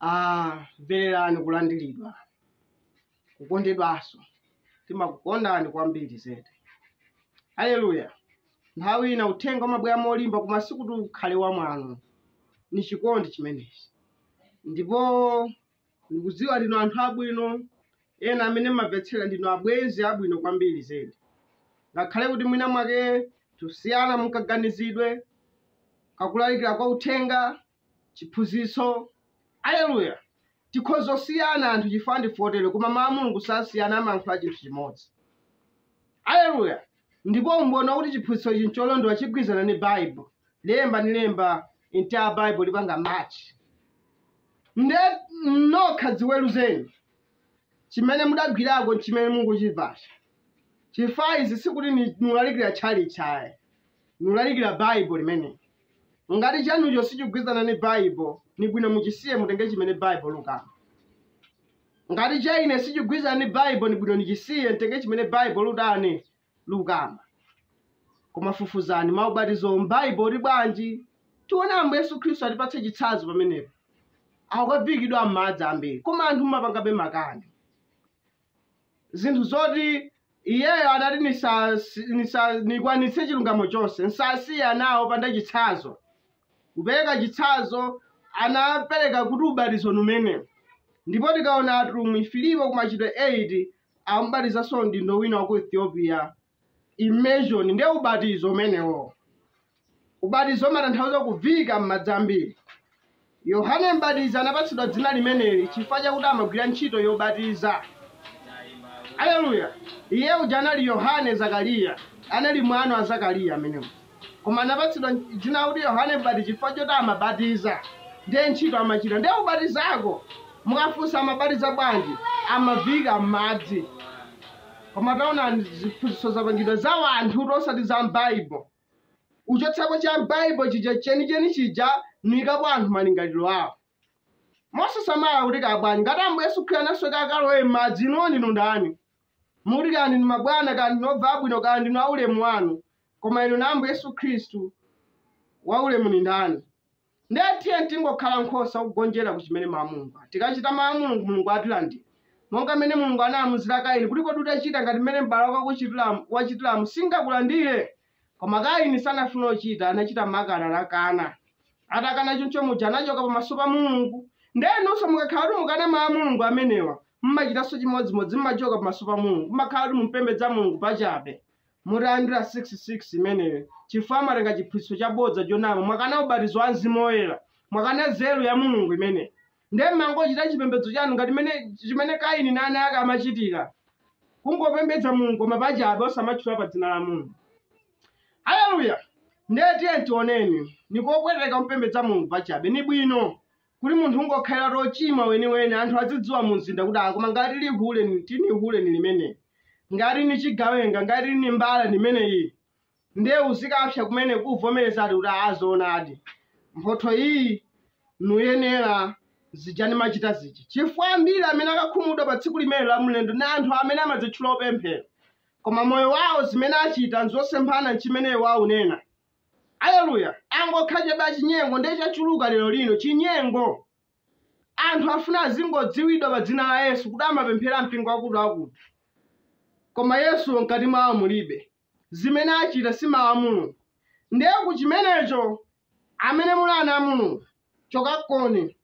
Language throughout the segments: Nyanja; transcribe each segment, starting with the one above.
Ah, mvererani kulandiridwa kukondedwanso timakukondani kwambiri zedi haleluya nthawi ina uthenga umabwera molimba koma sikuti ukhale wa mwano ni chikondi chimenechi ndipo ndikudziwa ndinu anthu abwino ena amene mmamvetsera ndinu abwenzi abwino kwambiri zedi ngakhale kuti mwina mwake tusiyana mkaganizidwe kakulalikira kwa uthenga chiphunzitso. Aleluya! Tikhoza kusiyana anthu chifukwa ndife otere, koma mawu a Mulungu sasiyana, amayankhula chinthu chimodzi. Aleluya! Ndipo umboni wakuti chiphunzitso ichi ncholondola chigwirizana ndi Bible. Lemba ndi lemba, entire Bible lipanga match. Nde nokha dziweruzeni chimene mudagwirako nchimene mukuchimvacho. Chifukwa izi sikuti nulalikira tchalitchi ayi. nulalikira baibo limeneli ngati chanucho sichigwirizana ni baibo ni bwino muchisiye mutenge chimene baibo lukamba ngati cha ine sichigwirizana ni baibo ni bwino nichisiye mtenge chimene baibo lutani lukamba koma fufuzani maubatizo m'baibo ali bwanji tiona ambuye yesu khristu atipatsa chitsanzo pamenepo akukaviikidwa m'madzi ambiri koma anthu mumapangabe makani zinthu zoti iyeyo adati nikwanitse chilungamo chonse nsasiye anawo panda chitsanzo kupereka chitsanzo anapereka kuti ubatizo ni umenewu ndipo tikaona atumwi filipo ku machitidwe 8 amubatizaso mdindo wina wa ku ethiopia immersion ndiye ubatizo umenewu ubatizo umatanthauza kuviika m'madzi ambiri yohane mbatizi anapatsidwa dzina limeneli chifukwa chakuti amagwira ntchito yobatiza aleluya iye uja anali yohane zakariya anali mwana wa zakariya ameneyu Koma anapatsidwa dzina lakuti Yohane Mbatizi chifukwa choti amabatiza. Ndiye ntchito amachita. Ndiye kubatizako, mukafunsa amabatiza bwanji, amaviika m'madzi. Koma taonani ziphunzitso zapangidwa za wanthutu osati za m'Baibo. Uchotsapo cha m'Baibo chija chenicheni chija niikapo anthu malingaliro awo. Mosasamala kuti kaya bwanji, ngati Ambuye Yesu Khristu anasweka akalowe m'madzi, inuwo ndinu ndani? Mukuti kaya ndinu mabwana, kaya ndinu obvala bwino, kaya ndinu aulemu wanu. Koma inu na Ambuye Yesu Khristu waulemu ni ndani? Ndiye tiyeni tingokhala nkhosa kugonjera ku chimene mawu a Mulungu ati. Tikachita mawu a Mulungu, Mulungu atilandira. Monga mmene Mulungu anaamuzira Kaini kuti kodi utachita ngati mmene m'bale wako wachitiramu singakulandire? Koma Kaini sanafuna kuchita, anachita makani, anakana. Atakana choncho muja anachoka pamaso pa Mulungu. Ndiye inunso mukakhala kuti mukana mawu a Mulungu amenewa, mmachitanso chimodzimodzi, mmachoka pamaso pa Mulungu, mmakhala kuti mumpembedza Mulungu pachabe. Mutalandira 6 6 imeneyo chifukwa mwatenga chiphunzitso chabodza chonama mwakana ubatizo wa mzimu woyera mwakana nzeru ya mulungu imeneyi ndiye mmangochita chipembedzo chanu ngati mene- chimene kaini na ana ake amachitira kungopembedza mulungu koma pachabe osamatchula pa dzina la mulungu haleluya ndiye tiyeni tioneni nikopweteka kumpembedza mulungu pachabe ni bwino kuti munthu ungokhaliratu ochimwa weniweni anthu azidziwa mu mzinda kuti koma ngati lihule ni- tini hule ni limene ngati ni chigawenga ngati ni mbala ni imeneyi ndiye uzikapsa kumene kuvomereza kuti azoonadi mphotho iyi niyenera zija nimachita zija chifukwa ambiri amene akakhumudwa pa tsiku limene la mlendo ni anthu amene amadzitchula opemphera koma moyo wawo zimene achita nzosemphana nchimene iwo aunena Aleluya! Angokhala chabe achinyengo ndiye chachuluka lero lino, chinyengo. Anthu afuna azingodziwidwa pa dzina la Yesu kuti amapemphera mpingo wakuti wakuti. Koma Yesuwo mkati mwawo mulibe. Zimene achita si mawu a Mulungu. Ndiye ku chimenecho, amene muli ana a Mulungu, chokakoni.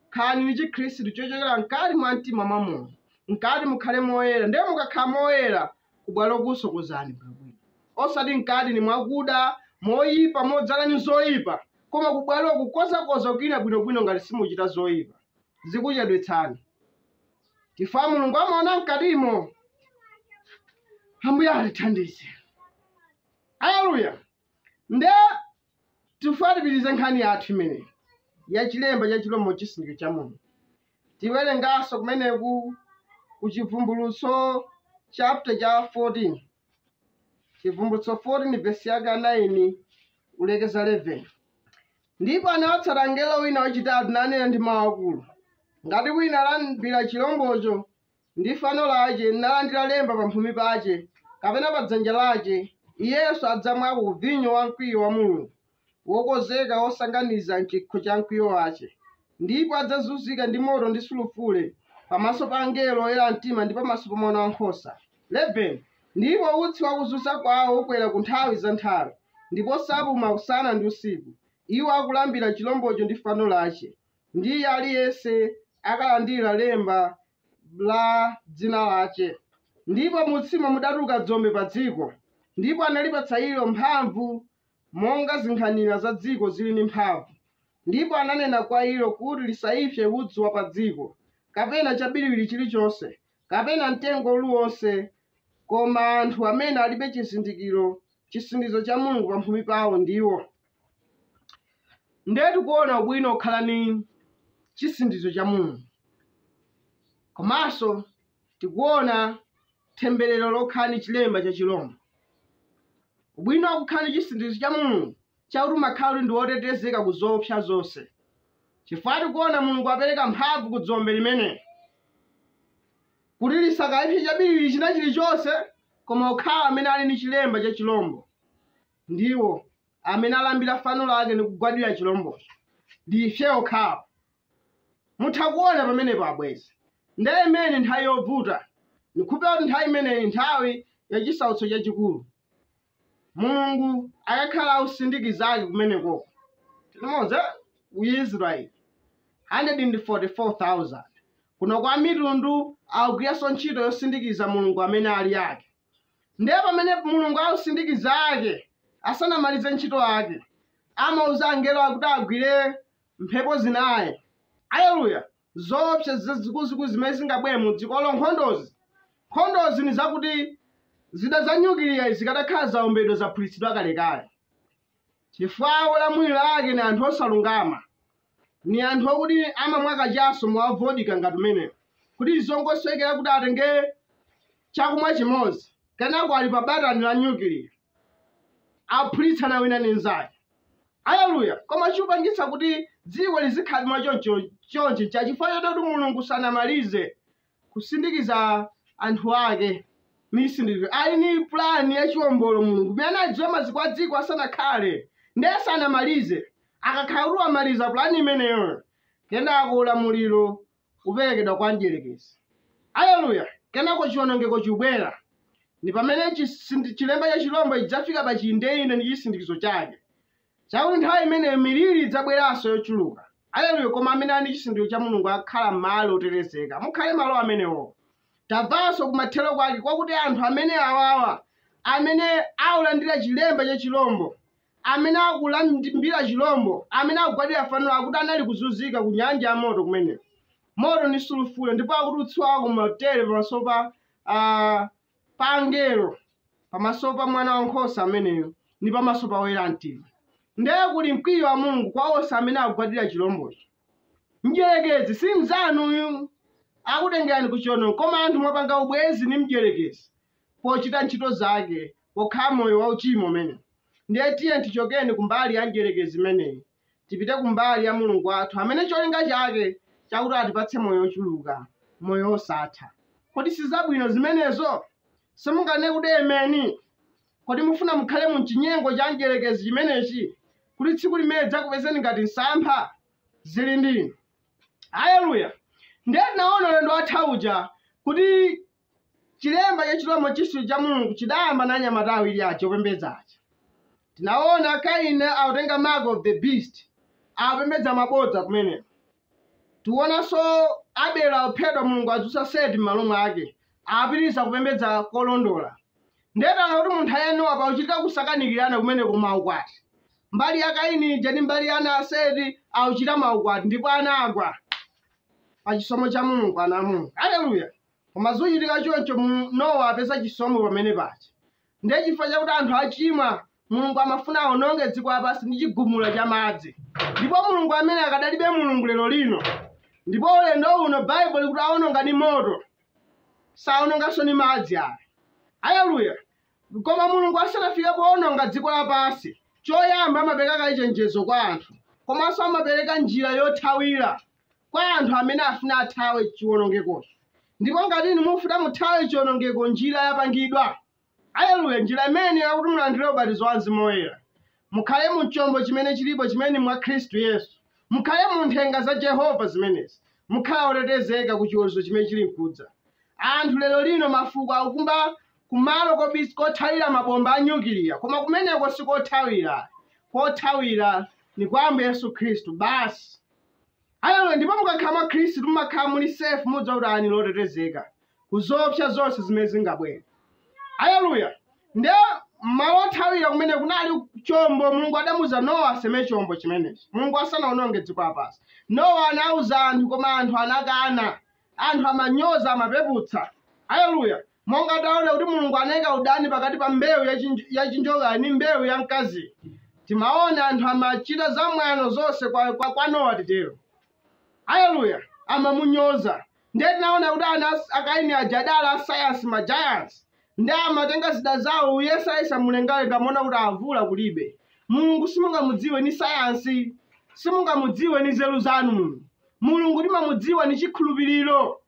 khalani ni chikhristu chochokera mkati mwa mtima mwa munthu mkati mukhale moyera ndiye mukakhala moyera kubwalo kusokozani bwino osati mkati ni mwakuda moyipa modzala ni zoyipa koma kubwalo kukozakoza kuja bwinobwino ngati simuchita zoyipa zikuchedwetsani chifukwa mulungu amaona mkatimo ambuye atithandize haleluya nde tifuna tipitirize nkhani yathu imeneyi ya chilemba cha chilombo chisindikizo cha mulungu tiwerenganso kumeneku ku chivumbulutso chapter cha 14 chivumbulutso 14 vesi yake ya 9 kulekeza 11 ndipo anawatsata mngelo wina wachitatu nanena ndi mawu akulu ngati wina alambira chilombocho ndi fano lace, nalandira lemba pamphumi pace, kapena pa dzanja lace, iyenso adzamwako ku vinyo wa mkwiyo wa Mulungu, wokonzeka wosanganiza m'cikho ca mkwiyo wace, ndipo adzazunzika ndi moto ndi sulufure, pamaso pa angelo oyera mtima, ndi pamaso pa Mwana wa Nkhosa. 11 ndipo utsi wa kuzunza kwawo ukwera ku nthawi za nthawi, ndipo sapuma usana ndi usiku, iwo akulambira cilomboco ndi fano lace. ndi iye aliyense akalandira lemba la dzina lace ndipo mutsimo mudaturuka dzombe pa dziko ndipo analipatsa ilo mphamvu monga zinkhanira za dziko ziri ndi mphamvu ndipo ananena kwa ilo kuti lisaipse udzu wa pa dziko kapena cabiriwiri ciriconse kapena mtengo uliwonse koma anthu amene alibe chizindikiro chisindikizo cha mulungu pamphumi pawo ndiwo ndiye tikuona ubwino okhala ni chisindikizo cha mulungu komanso tikuona temberero lokhala ni chilemba cha chilombo ubwino wakukhala ni chisindikizo cha mulungu chakuti umakhala uli ndi wotetezeka ku zoopsa zonse chifukwa tikuona mulungu apereka mphamvu ku dzombe limeneli kuti lisakaipse chabiriwiri china chilichonse koma okhawo amene ali ndi chilemba cha chilombo ndiwo amene alambira fano lake ndi kugwadira chilombocho ndiye okhawo mutha kuona pamenepo abwezi ndiye imene nthawi yovuta ndikupeza kuti nthawi imeneyi nthawi ya chisautso chachikulu mulungu akakhala akusindikiza ake kumeneko timodzi ku israeli 144000 kuno kwa mitundu akugwiranso ntchito yosindikiza mulungu amene ali ake ndiye pamene mulungu akusindikiza ake asanamalize ntchito yake amauza angelo akuti agwire mphepo zinayi aleluya zoopsa zikuluzikulu zimene zingabwere mu dzikolo nkhondozi nkhondozi ni zakuti zida za nyukiliya zikadakhala zaombedwa zaphulitsidwa kalekale chifukwa olamulira ake ni anthu osalungama ni anthu okuti amamwa kachaso mowa vodika ngati umenewo kuti zongosowekera kuti atenge chakumwa chimodzi kenako ali pa batani la nyukiliya aphulitsana wina ni mnzake Aleluya! Koma chikupangitsa kuti dziko lizikhala mwa chonchi ncha chifukwa choti Mulungu sanamalize kusindikiza anthu ake misindikizo. Ali ni plan ya chiombolo Mulungu. Imene anaidziwa maziko a dziko asanakhale, ndiye sanamalize. Akakhala kuti wamaliza plan imeneyo, kenako ulamuliro uperekedwa kwa mdierekezi. Aleluya! Kenako chiwonongeko chibwera. Ndi pamene chilemba cha chirombo chidzafika pa chiyindeyinde ndi chisindikizo chake. Chakuti nthawi imeneyo miliri idzabweranso yochuluka. Aleluya! Koma amene ali ndi chisindikizo cha Mulungu akhala malo otetezeka. Mukhale malo amenewo. Tamvanso kumathero kwake kwakuti anthu amene awawa amene aulandira chilemba cha chirombo amene akulambira chilombo, amene akugwadira fanolo, akuti anali kuzunzika ku nyanja ya moto kumeneko, moto ndi sulufule, ndipo akuti utsi wake umathera pamaso pa ah, pa angelo, pamaso pa mwana wankhosa ameneyo, ndi pamaso pa oyera mtima. Ndiye kuli mkwiyo wa Mulungu kwa onse amene akugwadira chilombocho. Mdyerekezi si mnzanuyu akutengerani ku chiono, koma anthu mwapanga ubwenzi ndi mdyerekezi pochita ntchito zake pokhala moyo wauchimo umenewo. Ndiye tiyeni tichokeni kumbali ya mdyerekezi imeneyi, tipite kumbali ya Mulungu wathu amene cholinga chake chakuti atipatse moyo wochuluka, moyo wosatha. Kodi si zabwino zimenezo? Simunganene kuti Ameni? Kodi mufuna mukhale mu m'chinyengo cha mdyerekezi chimenechi, kuti tsiku limene lidzakupezeni ngati msampha? Zili ndi inu. Aleluya! Ndiye tinaona ulendo watha uja kuti Chilemba cha chilombo chisindikizo cha Mulungu chidayamba na anyamata awiri aja opembedza aja. Tinaona Kaini akutenga mark of the beast akupembedza mabodza kumeneko. Tionanso Abelo akuphedwa Mulungu adzutsa Seti m'malo mwake apitiriza kupembedza kolondola. Ndiye taona kuti mu nthawi ya Nowa pakuchitika kusakanikirana kumene kumaukwati. Mbali ya Kaini ija ndi mbali ya ana a Seti akuchita maukwati ndipo anagwa pa chisomo cha Mulungu ana a Mulungu. Aleluya! Koma zikuchitika choncho Nowa apeza chisomo pamene paja. Ndiye chifukwa chakuti anthu achimwa, Mulungu amafuna awononge dziko lapansi ndi chigumula cha madzi. Ndipo Mulungu amene akadalibe Mulungu lero lino. Ndipo ulendo uno Baibulo likuti awononga ndi moto. Sawononganso ndi madzi ayi. Haleluya. Koma Mulungu asanafike poononga dziko lapansi, choyamba amapereka kaye chenjezo kwa anthu. Komanso amapereka njira yothawira. kwa anthu amene afuna athawe chiwonongekocho. Ndipo ngati inu mufuna muthawe chiwonongeko, njira yapangidwa. Aleluya! Njira imene yakuti mulandire ubatizo wa Mzimu Woyera, mukhale mu chombo chimene chilipo chimene mwa Khristu Yesu, mukhale mu nthenga za Jehova zimenezi, mukhala otetezeka ku chiweruzo chimene chili nkudza. Anthu lero lino mafuko akukumba kumalo kothawira mabomba a nyukiliya, koma kumeneko si kothawira. Kothawira ni kwa Ambuye Yesu Khristu basi. Haleluya! Ndipo mukakhala mwa Khristu mumakhala muli safe, mudziwa kuti ine ndi otetezeka ku zoopsa zonse zimene zingabwere. Haleluya! Nde malo othawira kumene kunali chombo, Mulungu adamuuza Nowa aseme chombo chimenechi. Mulungu asanaononge dziko lapansi, Nowa anauza anthu, koma anthu anakana. Anthu amanyoza, amapeputsa. Haleluya! Monga taona kuti Mulungu anaika udani pakati pa mbewu ya chinjokayo ndi mbewu ya mkaziyo, timaona anthu amachita zamwano zonse kwa, kwa, kwa Nowa titero. Aleluya, amamunyoza. Ndiye tinaona kuti ana a Kaini aja adali asayansi ma giants ndiye amatenga zida zawo kuyesayesa mlengalenga amaona kuti mvula kulibe. Mulungu simungamudziwe ni sayansi, simungamudziwe ni nzeru zanu Mulungu. Mulungu timamudziwa ni chikhulupiriro.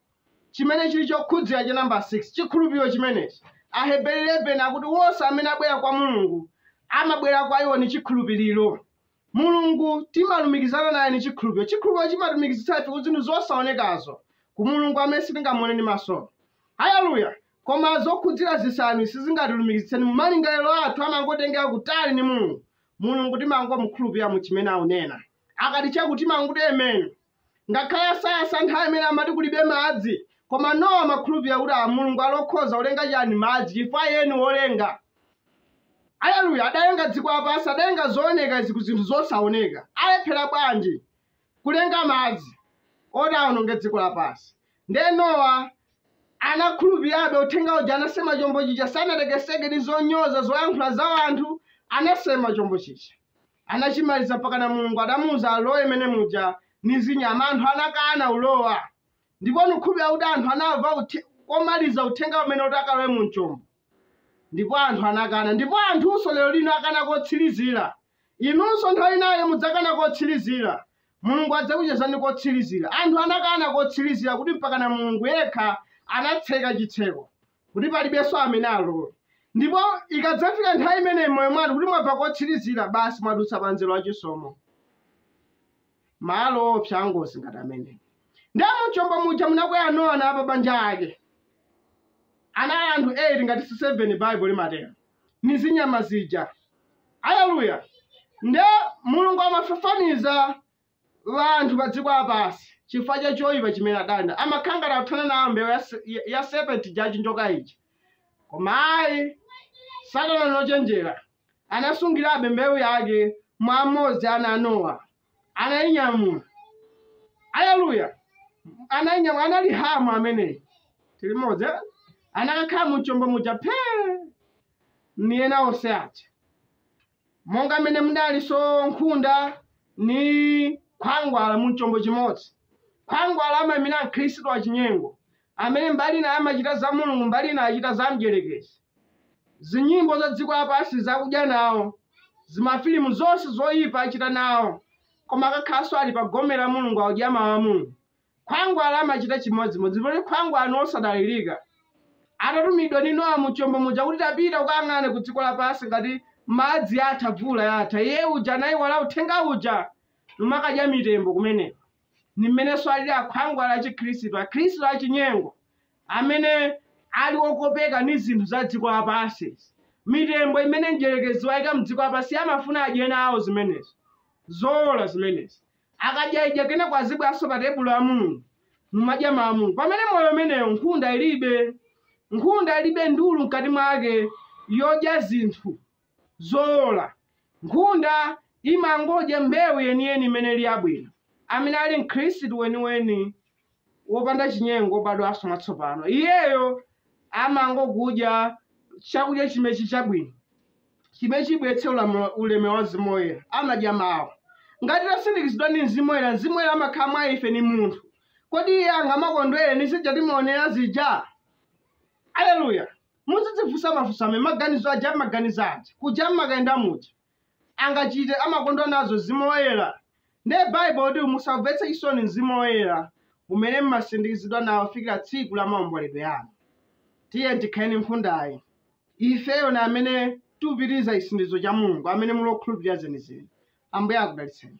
chimene chili chokhudzira cha nambala 6, chikhulupiriro chimenechi. Aheberi 11 akuti wonse amene abwera kwa Mulungu amabwera kwa iwo ni chikhulupiriro. Mulungu timalumikizana naye ni chikhulupiriro. Chikhulupiriro chimatilumikizitsa ife ku zinthu zosaonekazo, ku Mulungu amene sitingamuone ndi maso. Haleluya! Koma zokhudzira zisanu sizingatilumikizitse ni malingaliro athu amangotitengera kutali ni Mulungu. Mulungu timangomukhulupirira mu chimene akunena. Akati chakuti timangokuti amen. Ngakhale asayansi nthawi imene amati kulibe madzi, koma Nowa amakhulupirira kuti a Mulungu ali okhoza kulenga chani madzi chifukwa iye ni wolenga. Aleluya! Adalenga dziko lapansi, adalenga zooneka izi ku zinthu zosaoneka. Alephera bwanji kulenga madzi oti aononge dziko lapansi? Ndiye Nowa anakhulupirirabe uthenga uja, anasema chombo chija, sanatekeseke ni zonyoza, zoyankhula za wanthu, anasema chombo chija. anachimaliza mpakana mulungu adamuuza alowe mene muja ni zinyama anthu anakana ulowa ndipo nukhulupirira kuti anthu anamva uthe- komaliza uthenga umene kuti akalowe mu chombo ndipo anthu anakana ndipo anthunso lero lino akana kotsirizira inunso nthawi inayo mudzakana kotsirizira mulungu adzakuchezani kotsirizira anthu anakana kotsirizira kuti mpakana mulungu yekha anatseka chitseko kuti palibenso amene alowe. Ndipo ikadzafika nthawi imeneyi m'moyo mwanu kuti mwabva kotsirizira, basi mwadutsa pa mzere wa chisomo. Malo oopsa angozi ngati amene. Ndiye mu chombo muja munakwera Nowa na apabanja ake. Anali anthu 8 ngati si 7 Baibulo limatero. Ni zinyama zija. Aleluya. Nde Mulungu amafafaniza wanthu pa dziko lapansi, chifukwa cha choipa chimene adana, amakhala ngati akuthana nawo mbewu ya, se- ya, ya serpent ija yachinjoka ija. Koma ayi, Satana ndi wochenjera anasungirabe mbewu yake mwa mmodzi wa ana a Nowa, anayinyamula. Aleluya! Anayinyamula, anali Hamu ameneyi. Tili limodzi, eh? anakakhala mu chombo muja phee, ni ena onse aja. monga mmene munalinso nkhunda ndi khwangwala mu chombo chimodzi. Khwangwala amaimira Mkhristu wachinyengo amene mbali ina amachita za Mulungu mbali ina achita za Mdyerekezi. Zinyimbo za dziko lapansi akudya nawo, zimafilimu zonse zoipa achita nawo, koma akakhalanso ali pa gome la Mulungu akudya Mawu a Mulungu. Khwangwala amachita chimodzimodzi. Ndipo khwangwala ni wosadalilika. Atatumidwa ni Nowa mu chombo muja kuti tapita ukayang'ane ku dziko lapansi ngati madzi atha, mvula yatha, iye uja anaiwala uthenga uja numakadya mitembo kumeneko. Ni mmenenso alili akhwangwala achikhristu, Akhristu achinyengo amene ali okopeka ni zinthu za dziko lapansi izi. Mitembo imene Mdyelekezi waika m'dziko lapansi, iye amafuna adye nawo zimenezi. N'zoona zimenezi. Akadya idya kenako azibweranso pa tebulo la Mulungu numadya mau a Mulungu. Pamene moyo umeneyo nkhunda ilibe. Nkhunda ilibe ndulu mkati mwake yodya zinthu zowola. Nkhunda imangodya mbewu yeniyeni imene ili yabwino. Amene ali Mkhristu weniweni. wopanda chinyengo wobadwanso mwatsopano, iyeyo amangokudya chakudya chimechi chabwino chimene chibweretse ulemu wa Mzimu Woyera. Amadya mawu. Ngati tasindikizidwa ndi Mzimu Woyera, Mzimu Woyera amakhala mwa ife ni munthu. Kodi iye angamakondwere ni zija timaonera zija? Aleluya! Muzidzifunsa mafunso amene maganizo aja amaganiza aja, kuja amakayenda muja. angachite amakondwa nazo mzimu woyera ndiye baibulo ikuti musaumvetse chisoni mzimu woyera umene mmasindikizidwa nawo fikira tsiku la maomboledwe anu tiyeni tikhale nkhundayi ifeyo ndi amene tupitiriza chisindikizo cha mulungu amene muli okhulupirira zenizeni ambuye akudalitseni